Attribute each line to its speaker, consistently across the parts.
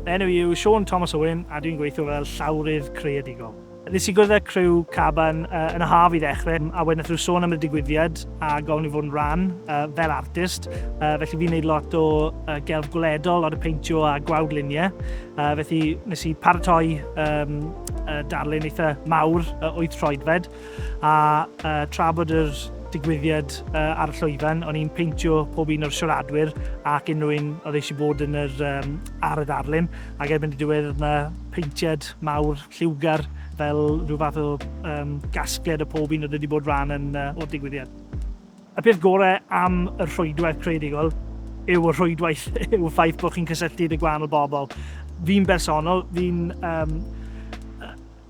Speaker 1: Fy enw i yw Siôn Thomas Owen a dwi'n gweithio fel llawrydd creadigol. Nes i gwrdd â criw Caban yn y haf i ddechrau a wedyn nathon nhw sôn am y digwyddiad a gofyn i fod yn rhan fel artist felly fi'n neud lot o gelf gwledol, lot o peintio a gwawd luniau felly nes i paratoi darlun eitha mawr wyth troedfed a tra bod yr digwyddiad ar y llwyfan, o'n i'n peintio pob un o'r siaradwyr ac unrhyw un oedd eisiau bod yn yr, um, ar y ddarlun, ac erbyn y diwedd oedd yna peintiad mawr, lliwgar, fel rhyw fath o um, gasgliad o pob un oedd wedi bod rhan yn, uh, o'r digwyddiad. Y peth gorau am y rhwydwaith creadigol yw y rhwydwaith, yw'r ffaith bod chi'n cysylltu dy gwahanol bobl. Fi'n bersonol, fi'n um,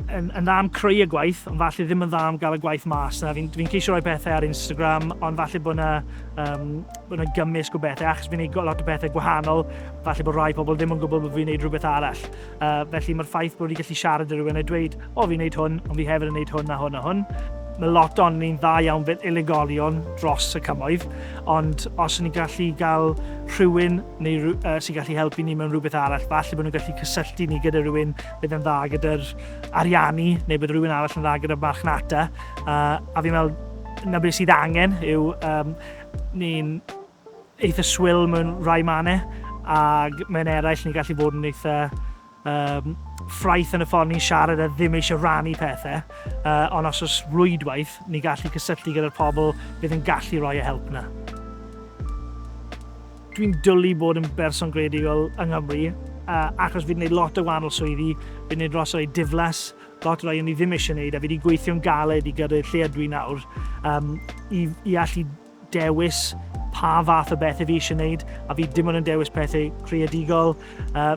Speaker 1: yn yn dda am creu y gwaith, ond falle ddim yn dda am gael y gwaith mas. Na, fi'n fi ceisio rhoi pethau ar Instagram, ond falle bod yna um, bod yna gymysg o bethau, achos fi'n gwneud lot o bethau gwahanol, falle bod rhai pobl ddim yn gwybod bod fi'n gwneud rhywbeth arall. Uh, felly mae'r ffaith bod fi gallu siarad â rhywun a dweud, o fi'n gwneud hwn, ond fi hefyd yn gwneud hwn a hwn a hwn, mae lot o'n ni'n dda iawn fel unigolion dros y cymoedd, ond os ni'n gallu gael rhywun neu uh, sy'n gallu helpu ni mewn rhywbeth arall, falle bod nhw'n gallu cysylltu ni gyda rhywun bydd e'n dda gyda'r ariannu neu bydd rhywun arall yn dda gyda'r marchnata a, a fi'n meddwl na beth sydd angen yw um, ni'n eitha swil mewn rhai mannau ac mewn eraill ni'n gallu bod yn eitha um, ffraith yn y ffordd ni'n siarad a ddim eisiau rannu pethau uh, ond os oes rwydwaith ni'n gallu cysylltu gyda'r pobl bydd yn gallu rhoi y help yna. Dwi'n dwlu bod yn berson greadigol yng Nghymru, achos fi 'di neud lot o wahanol swyddi, fi 'di neud lot o rei diflas, lot o rei o'n i ddim eisiau neud, a fi 'di gweithio'n galed i gyrru'r lle ydw i nawr, i i allu dewis pa fath o bethe fi eisiau neud, a fi dim ond yn dewis pethe creadigol,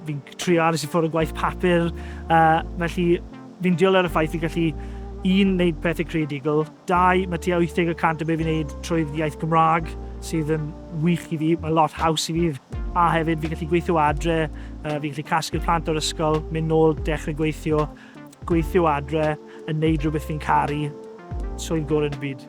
Speaker 1: fi'n trio aros i ffwr o gwaith papur, felly fi'n dwlu ar y ffaith fi'n gallu, un, neud pethe creadigol, Dau, mae tua 80 y cant o be fi'n neud trwy'r iaith Gymraeg, sydd yn wych i fi. Mae'n lot haws i fi, a hefyd fi'n gallu gweithio o adre, yy fi'n gallu casglu'r plant o'r ysgol, mynd nôl, dechre gweithio, gweithio o adre, yn neud rhywbeth fi'n caru. Swydd gore yn y byd.